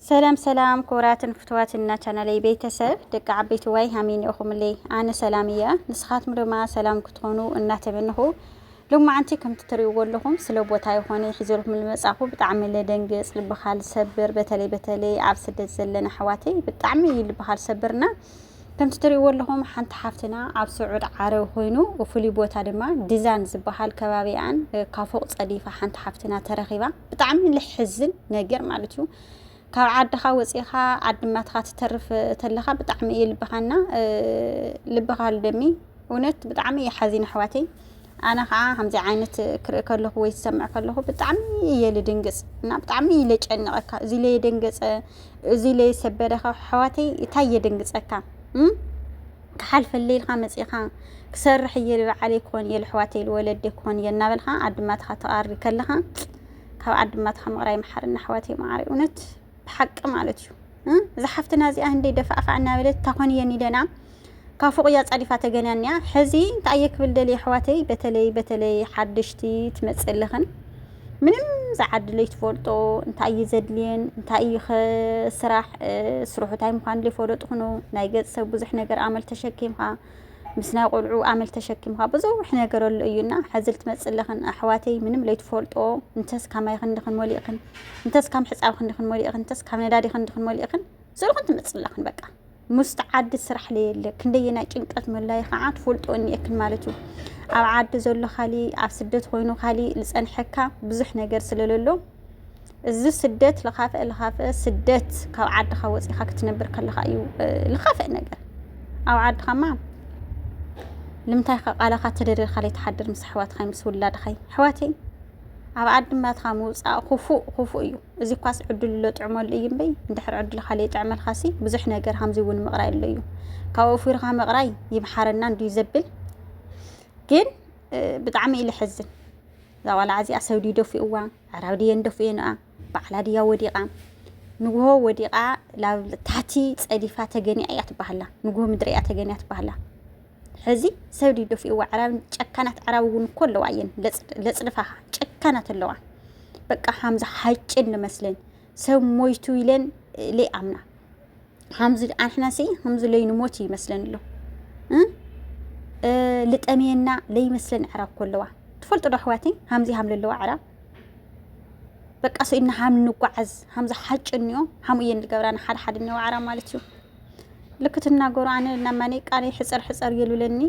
ሰላም ሰላም ክቡራትን ፍትዋትን እና ቻናለይ ቤተሰብ ደቂ ዓበይቲ ዋይ ሃመይ ኒኦኹምለይ ኣነ ሰላም እየ ንስኻትም ድማ ሰላም ክትኾኑ እናተመንኹ ሎማዓንቲ ከምቲ ትሪእዎ ኣለኹም ስለ ቦታ ይኾነ ሒዘልኩም ልመጻኹ ብጣዕሚ ለደንግጽ ልብኻ ልሰብር በተለይ በተለይ ኣብ ስደት ዘለና ኣሕዋተይ ብጣዕሚ እዩ ልብኻ ልሰብርና ከምቲ ትሪእዎ ኣለኹም ሓንቲ ሓፍትና ኣብ ስዑድ ዓረብ ኮይኑ ፍሉይ ቦታ ድማ ድዛን ዝበሃል ከባቢኣን ካብ ፎቅ ጸዲፋ ሓንቲ ሓፍትና ተረኺባ ብጣዕሚ ልሕዝን ነገር ማለት እዩ ካብ ዓድኻ ወፂኻ ዓዲ ማትኻ ትተርፍ ተለኻ ብጣዕሚ እዩ ልብኻና ልብኻ ልደሚ እውነት ብጣዕሚ እዩ ሓዚን ኣሕዋተይ ኣነ ከዓ ከምዚ ዓይነት ክርኢ ከለኹ ወይ ዝሰምዕ ከለኹ ብጣዕሚ እየ ልድንግፅ እና ብጣዕሚ እዩ ለጨንቐካ እዚ ለየደንገፀ እዚ ለየሰበረኻ ኣሕዋተይ እንታይ የደንግፀካ ክሓልፈለይ ኢልካ መጺእካ ክሰርሕ እየ ኢሉ በዓለይ ክኾን እየ ልሕዋተይ ልወለደይ ክኾን እየ እናበልካ ዓድማትኻ ተቃሪ ከለኻ ካብ ዓድማትኻ ምቕራይ መሓርና ኣሕዋተይ መዓረይ እውነት ብሓቂ ማለት እዩ እዛ ሓፍትና እዚኣ ህንደይ ደፋእፋዕ እናበለት ታኾን እየን ኢለና ካብ ፎቕ እያ ጻዲፋ ተገንያንያ ሕዚ እንታይ እየ ክብል ደልየ ኣሕዋተይ በተለይ በተለይ ሓደሽቲ ትመጽእ ኣለኽን ምንም ዝዓድለይ ትፈልጦ እንታይ እዩ ዘድልየን እንታይ እዩ ስራሕ ስርሑ እንታይ ምዃኑ ዘይፈለጡ ኹኑ ናይ ገፅ ሰብ ብዙሕ ነገር ኣመል ተሸኪምካ ምስ ናይ ቆልዑ ኣመል ተሸኪምካ ብዙሕ ነገር ኣሎ እዩና ሕዚ ልትመፅእ ኣለኽን ኣሕዋተይ ምንም ለይትፈልጦ እንተስ ካብ ማይ ክንድኽን መሊእኽን እንተስ ካብ ሕፃብ ክንድኽን መሊእኽን እንተስ ካብ ነዳዲ ክንድኽን መሊእኽን ዝልኹን ትመፅእ ኣለኽን በቃ ሙስጥ ዓዲ ስራሕ ለየለ ክንደየናይ ጭንቀት መላይ ኸዓ ትፈልጦ እኒኤክን ማለት እዩ ኣብ ዓዲ ዘሎ ካሊ ኣብ ስደት ኮይኑ ካሊ ዝፀንሐካ ብዙሕ ነገር ስለለሎ እዚ ስደት ልኻፍአ ልኻፍአ ስደት ካብ ዓድኻ ወፂኻ ክትነብር ከለኻ እዩ ልኻፍእ ነገር ኣብ ዓድኻማ ልምታይ ከ ቃላኻ ተደሪርካ ለይትሓድር ምስ ኣሕዋትኻይ ምስ ውላድኻይ ኣሕዋተይ ኣብ ዓዲ ማትኻ ምውፃእ ክፉእ ክፉእ እዩ እዚ ኳስ ዕድሉ ለጥዕመሉ እዩ እምበይ እንድሕር ዕድልካ ለይጥዕመልካሲ ብዙሕ ነገር ሃምዚ እውን ምቕራይ ኣሎ እዩ ካብ ወፊርካ ምቕራይ ይምሓረና እንድዩ ዘብል ግን ብጣዕሚ እዩ ልሕዝን እዛ ቆልዓ እዚኣ ሰብ ድዩ ደፊእዋ ኣዕራብ ድየን ደፊኤንኣ ባዕላ ድያ ወዲቓ ንግሆ ወዲቓ ላብ ታሕቲ ፀዲፋ ተገኒኣ እያ ትባሃላ ንግሆ ምድሪ እያ ተገኒያ ትባሃላ ሕዚ ሰብ ድዩ ደፊእዎ ኣዕራቢ ጨካናት ኣዕራቢ እውን እኮ ኣለዋ እየን ለፅድፋኻ ጨካናት ኣለዋ በቃ ሓምዚ ሓጭን ንመስለን ሰብ ሞይቱ ኢለን ለይኣምና ሓምዚ ኣንሕናሲ ከምዚ ለይንሞት እዩ ይመስለን ኣሎ ልጠምየና ለይመስለን ኣዕራብ እኮ ኣለዋ ትፈልጡ ዶ ኣሕዋተይ ሓምዚ ሃም ለለዋ ኣዕራብ በቃ ሰኢድና ሃም ንጓዓዝ ሃምዚ ሓጭን እዮ ሃም እየን ዝገብራና ሓደ ሓደ እኒኦ ኣዕራብ ማለት እዩ ልክ ትናገሩ ኣነ ናብ ማኒ ቃኒ ሕፀር ሕፀር የሉለኒ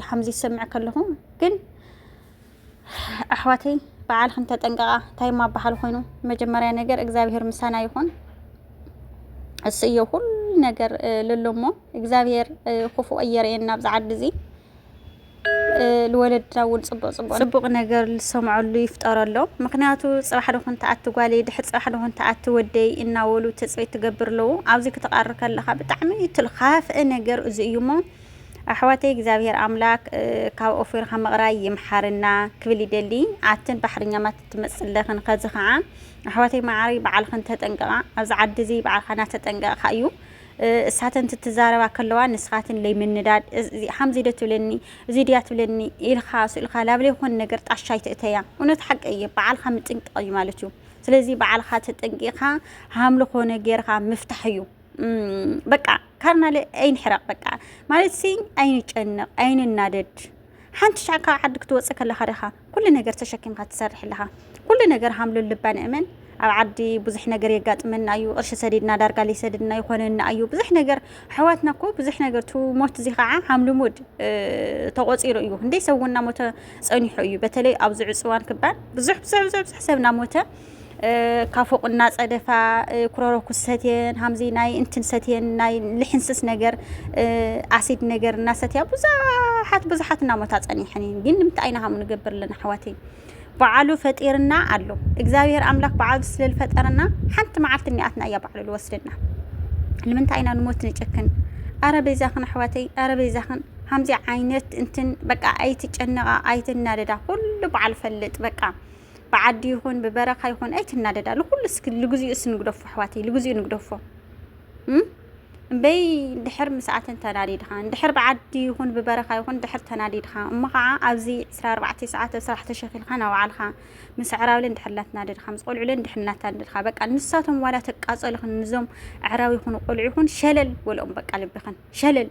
ሓምዚ ዝሰምዕ ከለኹ ግን ኣሕዋተይ በዓልክን ተጠንቀቓ እንታይ ማባሃል ኮይኑ መጀመርያ ነገር እግዚኣብሄር ምሳና ይኹን እሱ እዮ ኩሉ ነገር ለሎሞ እግዚኣብሄር ክፉእ ኣየርየና ኣብዚ ዓዲ እዚ ልወለድና እውን ፅቡቕ ፅቡቕ ፅቡቕ ነገር ልሰምዐሉ ይፍጠረሎም ምኽንያቱ ፅባሕ ዶ ኹን ትኣቲ ጓለይ ድሕር ፅባሕ ዶ ኹን ትኣቲ ወደይ እናበሉ ትፅቢት ትገብር ኣለው ኣብዚ ክትቓሪ ከለኻ ብጣዕሚ እቲ ልኻፍእ ነገር እዚ እዩ እሞ ኣሕዋተይ እግዚኣብሔር ኣምላክ ካብ ኦፊርካ ምቕራይ ይምሓርና ክብል ይደሊ ኣትን ባሕርኛ ማት እትመፅለኽን ከዚ ከዓ ኣሕዋተይ መዓረይ በዓልኽን ተጠንቀቓ ኣብዚ ዓዲ እዚ በዓልካ እናተጠንቀቕካ እዩ እሳተን ትትዛረባ ከለዋ ንስኻትን ለይምንዳድ እዚ ሓምዚ ዶ ትብለኒ እዚ ድያ ትብለኒ ኢልኻ ስእልካ ላብ ለይኾን ነገር ጣሻ ኣይትእተያ እውነት ሓቂ እየ በዓልካ ምጥንቃቅ እዩ ማለት እዩ ስለዚ በዓልካ ተጠንቂኻ ሃምሊ ኮነ ገርካ ምፍታሕ እዩ በቃ ካርናለ ኣይንሕረቅ በቃ ማለት ሲ ኣይንጨነቅ ኣይንናደድ ሓንቲ ሻዕ ካብ ዓዲ ክትወፅእ ከለኻ ደኻ ኩሉ ነገር ተሸኪምካ ትሰርሕ ኣለኻ ኩሉ ነገር ሃምሉን ልባን እመን ኣብ ዓዲ ብዙሕ ነገር የጋጥመና እዩ ቅርሺ ሰዲድና ዳርጋ ዘይሰድድና ይኾነና እዩ ብዙሕ ነገር ኣሕዋትና እኮ ብዙሕ ነገር ቱ ሞት እዚ ከዓ ሃም ልሙድ ተቆፂሩ እዩ ክንደይ ሰብ እውን እናሞተ ፀኒሑ እዩ በተለይ ኣብዚ ዕፅዋን ክባን ብዙሕ ብዙሕ ብዙሕ ብዙሕ ሰብ እናሞተ ካብ ፎቅ እናፀደፋ ኩሮሮኩስ ሰትየን ሃምዚ ናይ እንትን ሰትየን ናይ ልሕንስስ ነገር ኣሲድ ነገር እናሰትያ ብዙሓት ብዙሓት እናሞታ ፀኒሐን እየን ግን ንምንታይ ኢና ሃም ንገብር ኣለና ኣሕዋተይ በዓሉ ፈጢርና ኣሎ እግዚኣብሔር ኣምላክ በዓሉ ስለዝፈጠረና ሓንቲ መዓልቲ እኒኣትና እያ በዓሉ ዝወስደና ንምንታይ ኢና ንሞት ንጨክን ኣረ በይዛኽን ኣሕዋተይ ኣረ በይዛኽን ከምዚ ዓይነት እንትን በቃ ኣይትጨነቃ ኣይትናደዳ ኩሉ በዓል ፈልጥ በቃ ብዓዲ ይኹን ብበረኻ ይኹን ኣይትናደዳ ንኹሉ እስኪ ልግዚኡ እስ ንግደፎ ኣሕዋተይ ልግዚኡ ንግደፎ እምበይ እንድሕር ምስኣተን ተናዲድኻ እንድሕር ብዓዲ ይኹን ብበረኻ ይኹን እንድሕር ተናዲድኻ እሞ ከዓ ኣብዚ 24 ሰዓት ኣብ ስራሕ ተሸኺልካ ናብ ባዓልካ ምስ ኣዕራብለ እንድሕር እናተናደድካ ምስ ቆልዑለ እንድሕር እናተናደድካ በቃ ንሳቶም ዋላ ተቃፀልኽን ንዞም ኣዕራብ ይኹኑ ቆልዑ ይኹን ሸለል ወልኦም በቃ ልብኽን ሸለል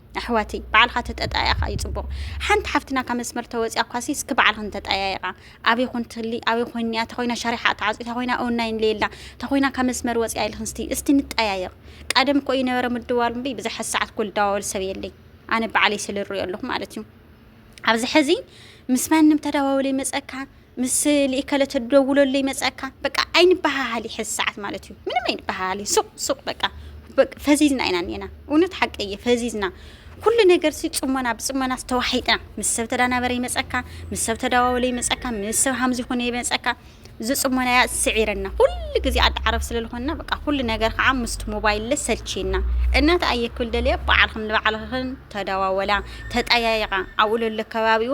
ኣሕዋተይ ባዕልካ ተጠጣያ ከኣ እዩ ጽቡቅ ሓንቲ ሓፍትና ካብ መስመር ተወጽያ ኳሲ እስኪ ባዕልክን ተጠያየቃ ኣበይ ኮን ትህሊ ኣበይ ኮይን እያ ተኮይና ሻሪሓ ተዓጽዩ ተኮይና ኦንላይን ለየላ ተኮይና ካብ መስመር ወጽያ ኢልክን እስቲ እስቲ ንጠያየቅ ቀደም እኮ ይነበረ ምድዋል እምበይ ብዝሐ ሰዓት እኮ ልደዋወል ሰብ የለይ ኣነ ባዕለይ ስለ ኣለኩ ማለት እዩ ኣብዚ ሕዚ ምስ ማንም ተደዋውለ ይመጸካ ምስ ልኢከለ ተደውለሉ ይመጸካ በቃ ኣይንበሃሃል ይሕዝ ሰዓት ማለት እዩ ምንም ኣይንበሃሃል እዩ ሱቅ ሱቅ በቃ ፈዚዝና ኢና እኔና እውነት ሓቂ እየ ፈዚዝና ኩሉ ነገር ሲ ጽሞና ብጽሞና ተዋሒጥና ምስ ሰብ ተዳናበረ ይመጸካ ምስ ሰብ ተዳዋወለ ይመጸካ ምስ ሰብ ሃምዚ ኮነ ይመጸካ እዚ ጽሞና እያ ስዒረና ኩሉ ግዜ ዓዲ ዓረብ ስለ ዝኾንና በቃ ኩሉ ነገር ከዓ ምስቲ ሞባይል ሰልችና እናተ ኣየክብል ደልየ በዓልኽም ንባዕልኽን ተዳዋወላ ተጠያየቃ ኣብኡ ለሎ ከባቢኡ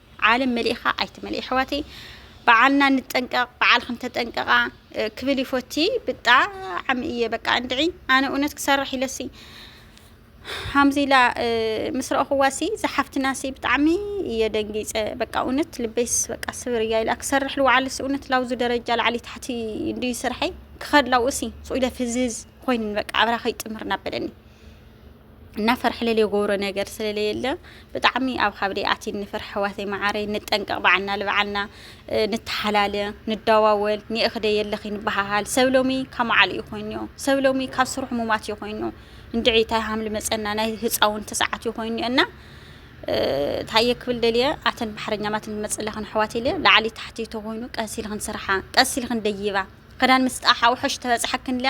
ዓለም መሊእኻ ኣይትመልእ የሕዋተይ በዓልና ንጠንቀቕ በዓልክን ተጠንቀቓ ክብል ይፎቲ ብጣዕሚ እየ በቃ እንድዒ ኣነ እውነት ክሰርሕ ኢለሲ ሃምዚ ኢላ ምስ ረእኹዋሲ ዝሓፍትናሲ ብጣዕሚ እየ ደንጊፀ በቃ እውነት ልበይስ በቃ ስብር እያ ኢላ ክሰርሕ ልውዓልሲ እውነት ላውዚ ደረጃ ላዕሊ ታሕቲ እንድዩ ስርሐይ ክኸድ ላውእሲ ፁኢለ ፍዝዝ ኮይንን በቃ ኣብራ ከይጥምር ናበለኒ እና ፈርሕ ለለ ጎብሮ ነገር ስለለ የለ ብጣዕሚ ኣብ ካብደይ ኣቲ ንፈርሕ ሕዋተይ መዓረይ ንጠንቀቕ በዓልና ልበዓልና ንተሓላለ ንዳዋወል ኒእኽደ የለኺ ንበሃሃል ሰብ ሎሚ ካብ መዓሉ እዩ ኮይኑዮ ሰብ ሎሚ ካብ ስርሑ ሙማት እዩ ኮይኑ እንድዒ ታይ ሃምሊ መፀና ናይ ህፃውን ተሰዓት እዩ ኮይኑ እና ታየ ክብል ደልየ ኣተን ባሕረኛማት ንመፅ ኣለኽን ኣሕዋት ኢለ ላዕሊ ታሕቲ ተኮይኑ ቀስ ኢልኽን ስርሓ ቀስ ኢልኽን ደይባ ክዳን ምስ ጣሓ ውሐሽ ተበፅሐክን ኢለ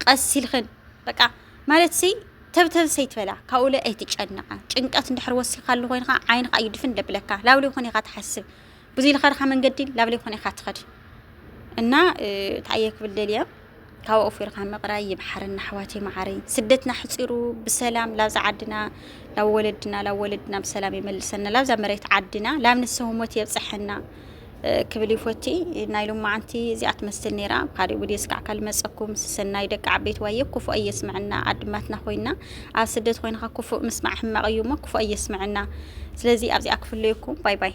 ቀስ ኢልኽን በቃ ማለትሲ ተብተብስ ኣይትበላ ካብኡ ላይ ኣይትጨነቐ ጭንቀት እንድሕር ወሲኻሉ ኮይንኻ ዓይንኻ እዩ ድፍን ደብለካ ላብለ ይኾን ኢኻ ትሓስብ ብዙይ ልኸድኻ መንገዲ ላብለ ይኾን ኢኻ ትኸድ እና እንታይ እየ ክብል ደልየ ካብ ኣፉ ኢርካ ምቕራይ ይብሓርን ኣሕዋት ይመዓረይ ስደትና ሕፂሩ ብሰላም ላብዛ ዓድና ላብ ወለድና ላብ ወለድና ብሰላም ይመልሰና ላብዛ መሬት ዓድና ላብ ንሰውሞት የብፅሐና ክብል ይፎቲ ናይ ሎማዓንቲ እዚኣ ትመስል ነይራ ኣብ ካልእ ቪድዮ ስካዕ ካል መፀኩም ሰናይ ደቂ ዓበይቲ ዋየ ክፉእ ኣየስምዐና ኣድማትና ኮይና ኣብ ስደት ኮይንካ ክፉእ ምስማዕ ሕማቅ እዩ እሞ ክፉእ ኣየስምዐና ስለዚ ኣብዚኣ ክፍለየኩም ባይ ባይ